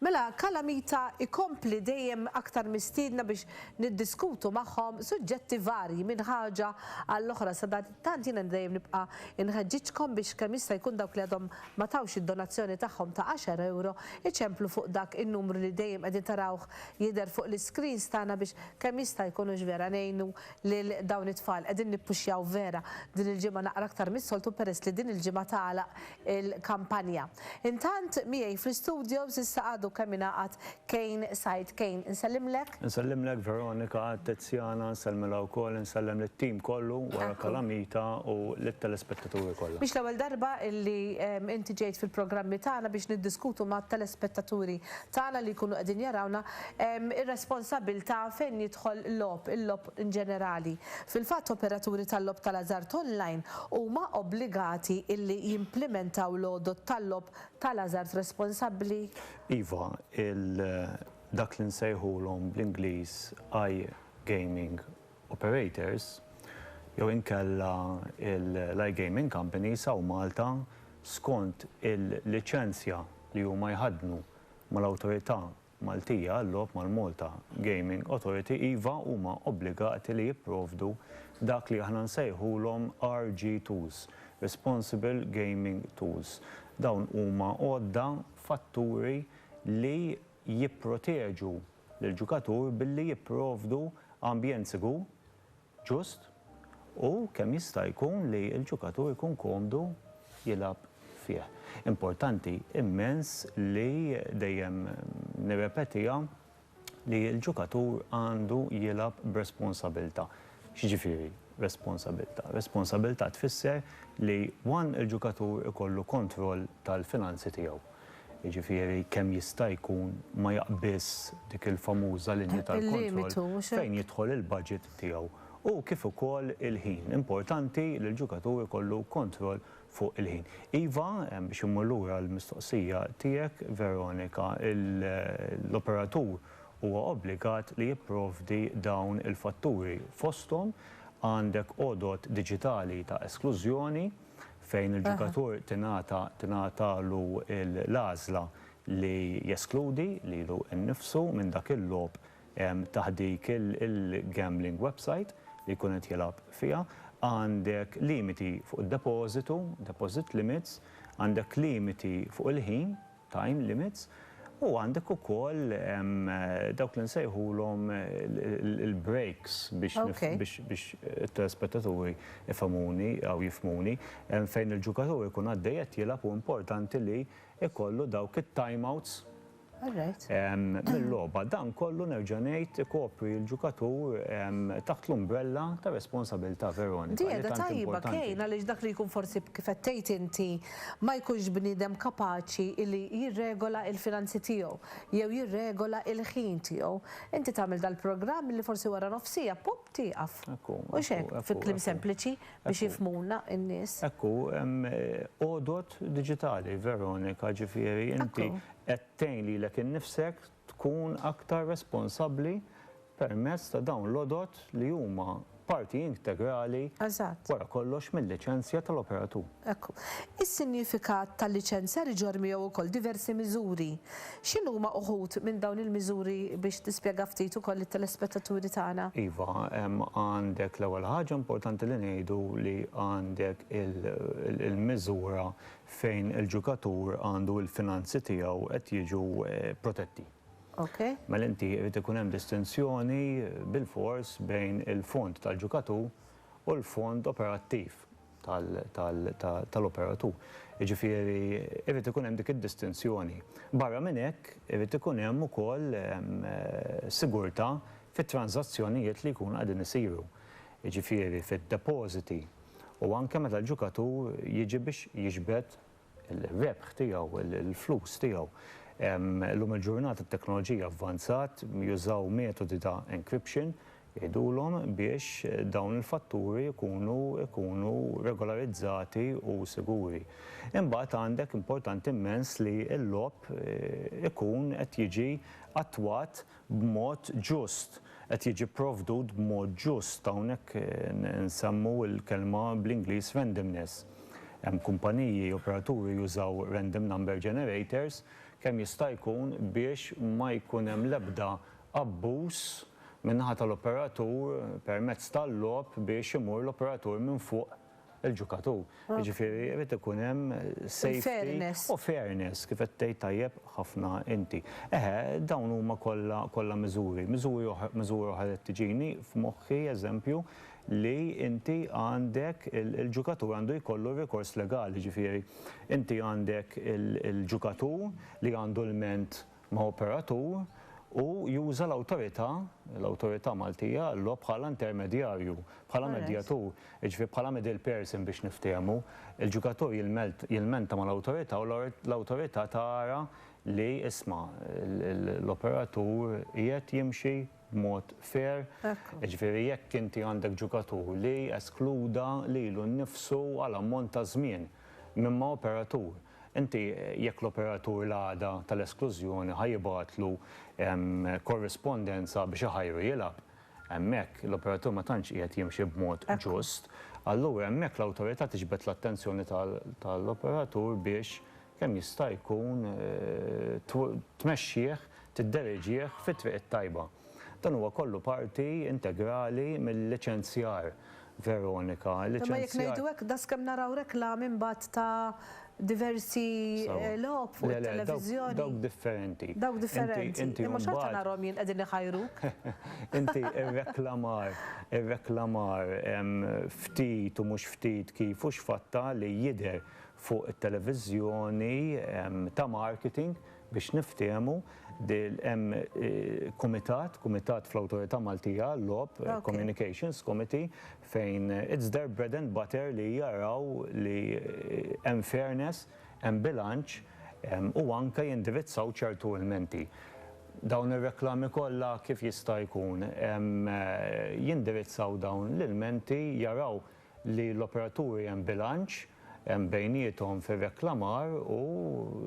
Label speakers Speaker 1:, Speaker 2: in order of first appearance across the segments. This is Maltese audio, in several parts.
Speaker 1: Mela Calamita jkompli dejjem aktar mistiedna biex niddiskutu magħhom suġġetti varji minn ħaġa għall-oħra. Sadanittant jiena dejjem nibqa' nħeġġiġkom biex kemm jista' jkun dawk li għadhom ma tawx id-donazzjoni tagħhom ta' għaxar ewro jċemplu fuq dak in-numru li dejjem qegħdin tarawh jidher fuq l-iscreens tagħna biex kemm jista' jkun hux vera ngħinu lil dawn it-tfal. Qegħdin nippuxjaw vera. Din il-ġimgħa naqra aktar mis-soltu peress li din il-ġimgħa tagħlaq il-kampanja. Intant, miegħi fl-istudios issa għadu kemm ingħaqad Kane Said. Kane, insellimlek. Insellimlek Veronika, Tiziana, nsellmilha wkoll, insellem lit-tim kollu wara Kalamita u lit-telespettaturi kollha. Mhix l-ewwel darba li inti ġejt fil-programmi tagħna biex niddiskutu mat-telespettaturi tagħna li jkunu qegħdin jarawna ir-responsabbiltà fejn jidħol logħob, il-logħob, in ġenerali. Fil-fatt, operaturi tal-logħob tal-ażard online huma obbligati illi jimplimentaw l-għodod tal-logħob tal-ażard responsabbli. Iva, il, dak li nsejħulhom bl-Ingliż iGaming operators, jew inkella l-iGaming companies hawn Malta, skont il-liċenzja li huma jħaddnu mal-Awtorità Maltija għal-logħob mal-Malta Gaming Authority iva huma obbligati li jipprovdu dak li aħna nsejħulhom RG Tools, Responsible Gaming Tools. Dawn huma għodda, fatturi li jipproteġu lill-ġukatur billi jipprovdu ambjent sigur ġust u kemm jista' jkun li l-ġukatur ikun komdu jilgħab fih. Importanti immens li dejjem nirrepetiha li l-ġukatur għandu jilgħab b'responsabilta'. X'jiġifieri responsabilta'? Responsabilta' tfisser li one il-ġukatur ikollu kontroll tal-finanzi tiegħu. jiġifieri kemm jista' jkun ma jaqbiżx dik il-famuża linja tal-kontroll fejn jidħol il-baġit tiegħu u kif ukoll il-ħin. Importanti li l-ġukatur ikollu kontroll fuq il-ħin. Iva, biex immur lura għall-mistoqsija tiegħek, Veronika, l-operatur huwa obbligat li jipprovdi dawn il-fatturi. Fosthom għandek għodod diġitali ta' esklużjoni, fejn il-ġukatur tingħata tingħatalu l-għażla li jeskludi lilu nnifsu minn dak il-logħob taħt dik il-gambling website li jkun qed jilgħab fiha. Għandek limiti fuq id-depożitu, deposit limits, għandek limiti fuq il-ħin time limits, u għandek ukoll dawk li nsejħulhom il-breaks biex it-telespettaturi ifhmuni jew jifhmuni, fejn il-ġukatur ikun għaddej qed jilgħab u importanti li jkollu dawk it-time outs mil-logħba. Dan kollu nerġa' ngħid ikopri l-ġukatur taħt l-umbrella tar-responsabilità, Veronika, li tant importanti. Di qiegħda tajba Kane għaliex dak li jkun forsi kif qed tgħid inti ma jkunx bniedem kapaċi li jirregola il-finanzi tiegħu jew jirregola il-ħin tiegħu. Inti tagħmel dal-programm li forsi wara nofsija, pop, tieqaf. Hekk hu. Mhux hekk, fi kliem sempliċi biex jifhmuna n-nies. Hekk hu, hemm għodod diġitali, Veronika, ġifieri inti qed tgħin lilek innifsek tkun aktar responsabbli permezz ta' dawn l-għodod li huma parti integrali Eżatt. wara kollox mil-liċenzja tal-operatur. Hekk hu. Is-sinjifikat tal-liċenzjar iġorr miegħu wkoll diversi miżuri. X'inhuma uħud minn dawn il-miżuri biex tispjega ftit ukoll lit-telespettaturi tagħna? Iva, hemm għandek l-ewwel ħaġa importanti li ngħidu li għandek il-miżura fejn il-ġukatur għandu il-finanzi tiegħu qed jiġu protetti. Mela inti irid ikun hemm distinzjoni bilfors bejn il-fond tal-ġukatur u l-fond operattiv tal-operatur. Jiġifieri irid ikun hemm dik id-distinzjoni. Barra minn hekk irid ikun hemm ukoll sigurtà fit-tranżazzjonijiet li jkunu qegħdin isiru. Jiġifieri fid-depożiti u anke meta l-ġukatur jiġi biex jiġbed ir-rebħ tiegħu, il-flus tiegħu. Illum il-ġurnata t-teknoloġija avvanzat, jużaw metodi ta' encryption, jgħidulhom, biex dawn il-fatturi jkunu jkunu regolarizzati u siguri. Imbagħad għandek importanti mmens li l-logħob ikun qed jiġi attwat b'mod ġust, qed jiġi pprovdut b'mod ġust. Hawnhekk nsemmu l-kelma bl-Ingliż randomness. Hemm kumpaniji, operaturi jużaw random number generators kemm jista' jkun biex ma jkun hemm l-ebda abbuż min-naħa tal-operatur permezz tal-logħob biex imur l-operatur minn fuq il-ġukatur. Jiġifieri irid ikun hemm safety u fairness kif qed tgħid tajjeb ħafna inti. Eħe, dawn huma kollha kollha miżuri. Miżuri oħra miżura oħra li tiġini f'moħħi eżempju li inti għandek il-ġukatur għandu jkollu r-rikors legali, jiġifieri inti għandek il-ġukatur li għandu lment ma' operatur u juża l-awtorità, l-awtorità Maltija għall-logħob bħala intermedjarju, bħala medjatur, jiġifieri bħala middle person biex niftehmu. Il-ġugatur jilmenta mal-awtorità u l-awtorità tara li, isma', l-operatur qiegħed jimxi b'mod fair, jiġifieri jekk inti għandek ġugatur li eskluda lilu nnifsu għal ammont ta' żmien minn ma' operatur, Inti, jekk l-operatur l-għada tal-esklużjoni ħa jibgħatlu korrispondenza biex iħajru jilgħab, hemmhekk l-operatur ma tantx qiegħed jimxi b'mod ġust. Allura hemmhekk l-Awtorità tiġbed l-attenzjoni tal-operatur biex kemm jista' jkun tmexxih, tiddereġih fit-triq it-tajba. Dan huwa kollu parti integrali mil-liċenzjar Veronika, liċenzjat. Imma jekk ngħidu hekk, daqskemm naraw reklami mbagħad ta' diversi logħob fuq it-televiżjoni. Le, le, dawk differenti. Dawk differenti. Imma xorta narhom jien qegħdin iħajruk. Inti r-reklamar, ir-reklamar ftit u mhux ftit kif u x'fatta li jidher fuq it-televiżjoni ta' marketing Biex niftiehmu, hemm kumitat, kumitat fl-Awtorità Maltija għal-Logħob, Communications Committee, fejn it's their bread and butter li jaraw li hemm fairness, hemm bilanċ u anke jindirizzaw ċertu ilmenti. Dawn ir-reklami kollha kif jista' jkun jindirizzaw dawn l-ilmenti, jaraw li l-operaturi hemm bilanċ bejniethom fir-reklamar u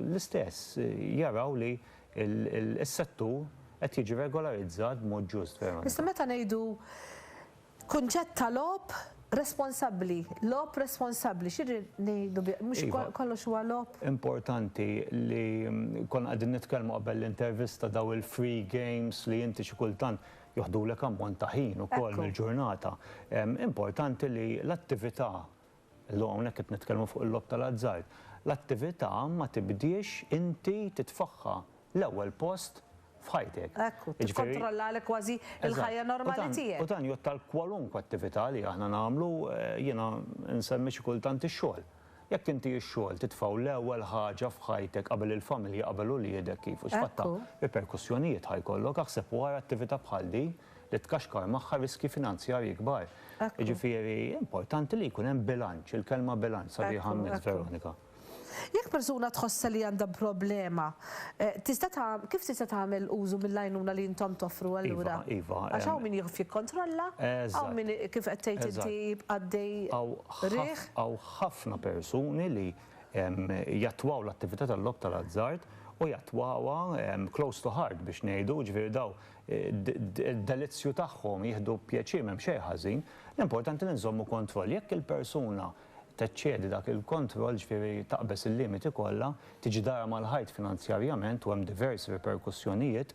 Speaker 1: l-istess jaraw li s-settur qed jiġi regolarizzat b'mod ġust verament. Issa meta ngħidu kunċett ta' logħob responsabbli, logħob responsabbli, x'irrid ngħidu bih? Mhux kollox huwa logħob? Iva, importanti li konna qegħdin nitkellmu qabel l-intervista dawn il-free games li inti xi kultant joħdulek ammont ta' ħin ukoll mill-ġurnata. Importanti li l-attività, illum hawnhekk qed nitkellmu fuq il-logħob tal-azzard, l-attività ma tibdiex inti titfagħha l-ewwel post f'ħajtek. Ekku, tikkontrollalek kważi l-ħajja normali tiegħek. U dan jgħodd għal kwalunkwe attività li aħna nagħmlu, jiena nsemmi xi kultant ix-xogħol. Jekk inti x-xogħol titfgħu l-ewwel ħaġa f'ħajtek qabel il-familja qabel uliedek kif u x'fatt ta' riperkussjonijiet ħa jkollok aħseb u ara attività bħal din li tkaxkar magħha riskji finanzjarji kbar. Jiġifieri importanti li jkun hemm bilanċ, il-kelma bilanċ sabiħa mmiss Veronika. Jekk persuna tħossha li għandha problema Tista' ta' kif tista' tagħmel użu mill-għajnuna li intom toffru allura? Iva, iva. Għax hawn min jieqaf jikkontrolla, hawn min kif qed tgħid inti jibqa' għaddej riħ. Hawn ħafna persuni li jattwaw l-attività tal-logħob tal-azzard u jattwawha close to heart biex ngħidu, jiġifieri dawn id-delizzju tagħhom jieħdu pjaċir m'hemm xejn ħażin, l-importanti li nżommu kontroll. Jekk il-persuna teċċedi dak il-kontroll, ġifieri taqbeż il-limiti kollha, tiġi dahra mal-ħajt finanzjarjament u hemm diversi riperkussjonijiet.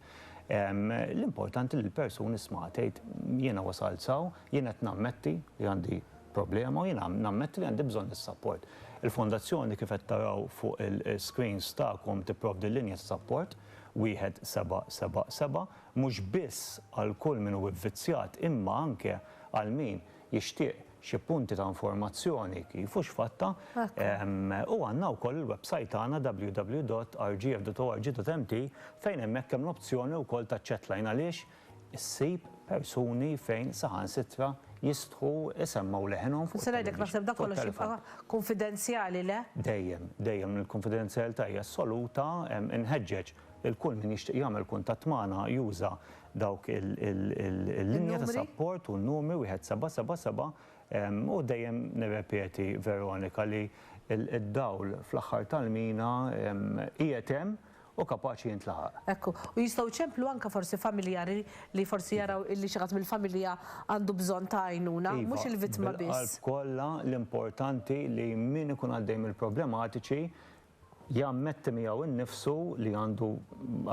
Speaker 1: L-importanti li l-persuni isma' tgħid jiena wasalt s'hawn, jien qed nammetti li għandi problema u jiena nammetti li għandi bżonn is-sapport. Il-Fondazzjoni kif qed taraw fuq il-screens tagħkom tipprovdi l-linja ta' sapport, 1777, mhux biss għal kull min hu vvizzjat imma anke għal min jixtieq xi punti ta' informazzjoni kif u x'fatta, u għandna wkoll il-websajt tagħna www.rgf.org.mt fejn hemmhekk hemm l-opzjoni wkoll taċ-chatline għaliex issib persuni fejn saħansitra jistħu jsemmgħu leħinhom fuq it-television, fuq it-telefown. Nista' ngħidlek naħseb dak kollox jibqa' kunfidenzjali, le? Dejjem, dejjem il-kunfidenzjalità hija assoluta, inħeġġeġ lil kull min jixtieq jagħmel kuntatt magħna juża dawk il-linja ta' sapport u n-numri wieħed seba' seba' seba' u dejjem nirrepeti Veronika li d-dawl fl-aħħar tal-mina qiegħed hemm u kapaċi jintlaħaq. Hekk hu. U jistgħu jċemplu anke forsi familjari li forsi jaraw illi xi ħadd mill-familja għandu bżonn ta' għajnuna, mhux il-vittma biss. Iva, bil-qalb kollha l-importanti li min ikun għaddej mill-problematiċi jammetti miegħu nnifsu li għandu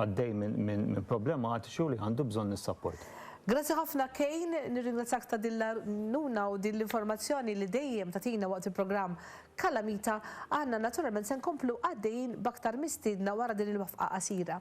Speaker 1: għaddej minn problematiċi u li għandu bżonn is-sapport. Grazzi ħafna Kejn, nirringrazzjak ta' din l-għajnuna u din l-informazzjoni li dejjem tagħtina waqt il-programm Kalamita. Aħna naturalment se nkomplu għaddejjin b'aktar mistiedna wara din il-waqfqa qasira.